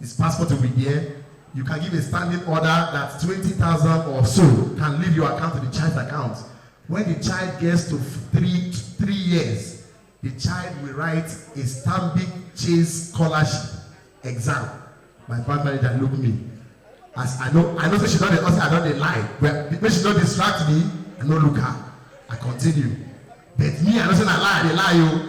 His passport will be there. You can give a standing order that 20,000 or so can leave your account to the child's account. When the child gets to three, three years, the child will write a Stanbic Chase scholarship exam. My fund manager look me. As I know, I know say she don dey hustle, I don dey lie. Well, make she no distract me, I no look her. I continue. But me, I know say na lie, I dey lie o.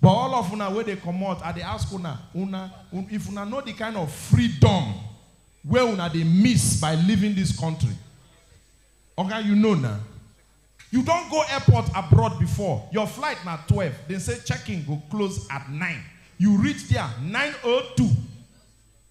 But all of una wey dey comot, I dey ask una, una, if una know the kind of freedom wey una dey miss by leaving this country, oga you know na. You don go airport abroad before, your flight na twelve, dem say check-in go close at nine, you reach there nine o two.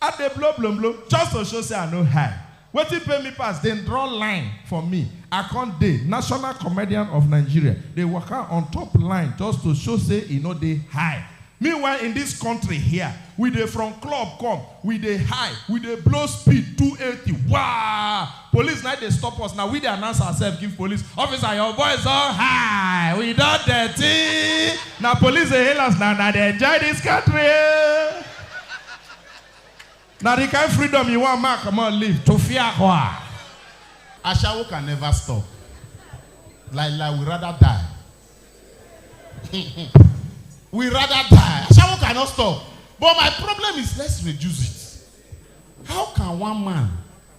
I dey blow blom blom just to show say I no high. Wetin pain me pass, dem draw line for me, I come dey National Comedian of Nigeria dey waka on top line just to show say e no dey high. Meanwhile in dis country hia, we dey from club come, we dey high, we dey blow speed two eighty, waa! Police na dey stop us na we dey announce ourself give police officer your voice don high we don dirty na police dey hail us na una dey enjoy this country na the kind freedom you wan make I comot leave tofiakwa. Ashawo can never stop. Lai lai, we rather die. we rather die. Ashawo cannot stop. But my problem is let's reduce it. How can one man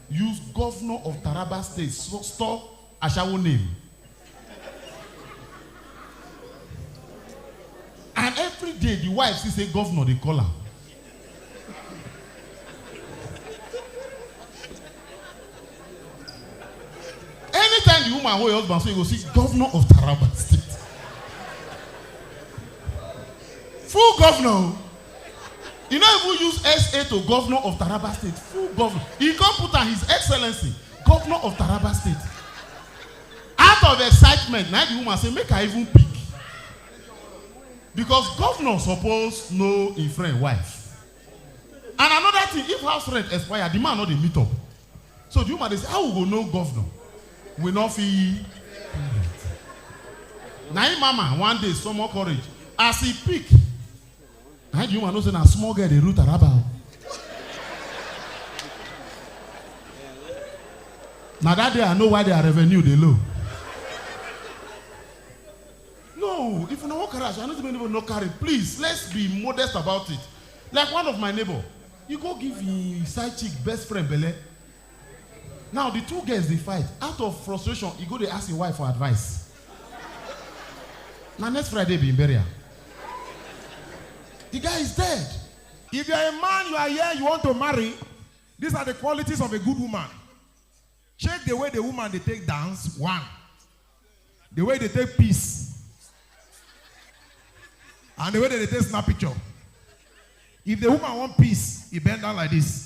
Use governor of Taraba state store ashawo name and everyday the wife see say governor dey call am. Anytime the woman hold her husband so you go see governor of Taraba state. Full governor o. E no even use SA to Governor of Taraba State, full Governor. E come put am His Excellency, Governor of Taraba State. Out of excitement, na the woman say make I even pick. Because governor suppose know im friend wife. And another thing, if house rent expire, the man no dey meet up. So the woman dey say, how we go know governor? We no fit pay rent. Na im mama one day summon courage as e pick How do you want to say na small girl dey root araba o? Na that day I know why their revenue dey low. No, if una wan carry ash, I no say make anybody no carry. Please, let's be modest about it. Like one of my neighbor, he go give him side chick best friend belle. Now di two girls dey fight, out of frustration e go dey ask im wife for advice. Na next Friday be im burial. Di guy is dead. If you are a man you are here you want to marry, these are the qualities of a good woman, check the way the woman dey take dance one, the way e dey take piss and the way dem dey take snap picture. If the woman wan piss, e bend down like this.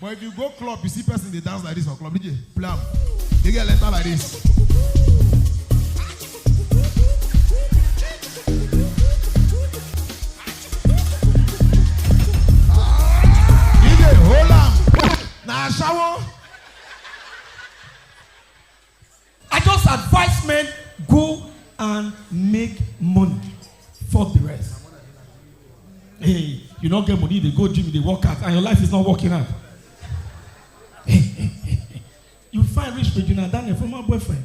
But if you go club, you see person they dance like this for club, DJ, play am. They get letter like this. DJ, hold am. Na shower. I just advice men go and make money fuck the rest. Hey, you no get money, you dey go gym, you dey work out and your life is not working out. you find rich Regina Daniel former boyfriend.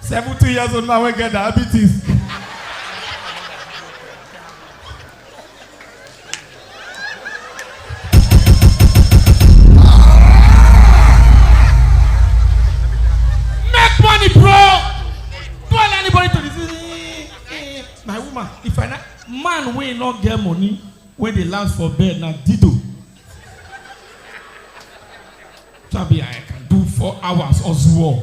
70 years old man wey get diabetes. Make money, bro. Don't allow anybody to deceive. Eh, My woman, if I na man wey no get money, wey dey last for bed na dido. Tabi I can do four hours or so.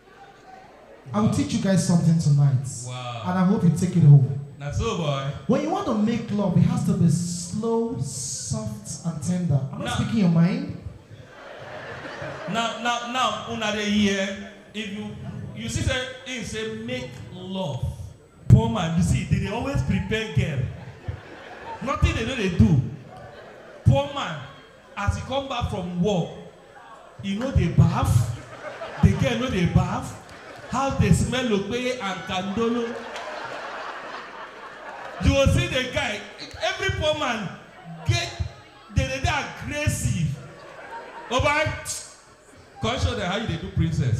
I will teach you guys something tonight. Wow. And I hope you take it home. Now, so boy. When you want to make love, it has to be slow, soft, and tender. I'm not now, speaking your mind. Now, now, now, another year, if you you see say him say make love poor man you see they dey always prepare girl nothing they no dey do poor man as he come back from work I no dey baff, the girl no dey baff, house dey smell okpeye and kandolo. You go see the guy, every poor man get dey dey dey aggressive. Obai, come show them how you dey do princess.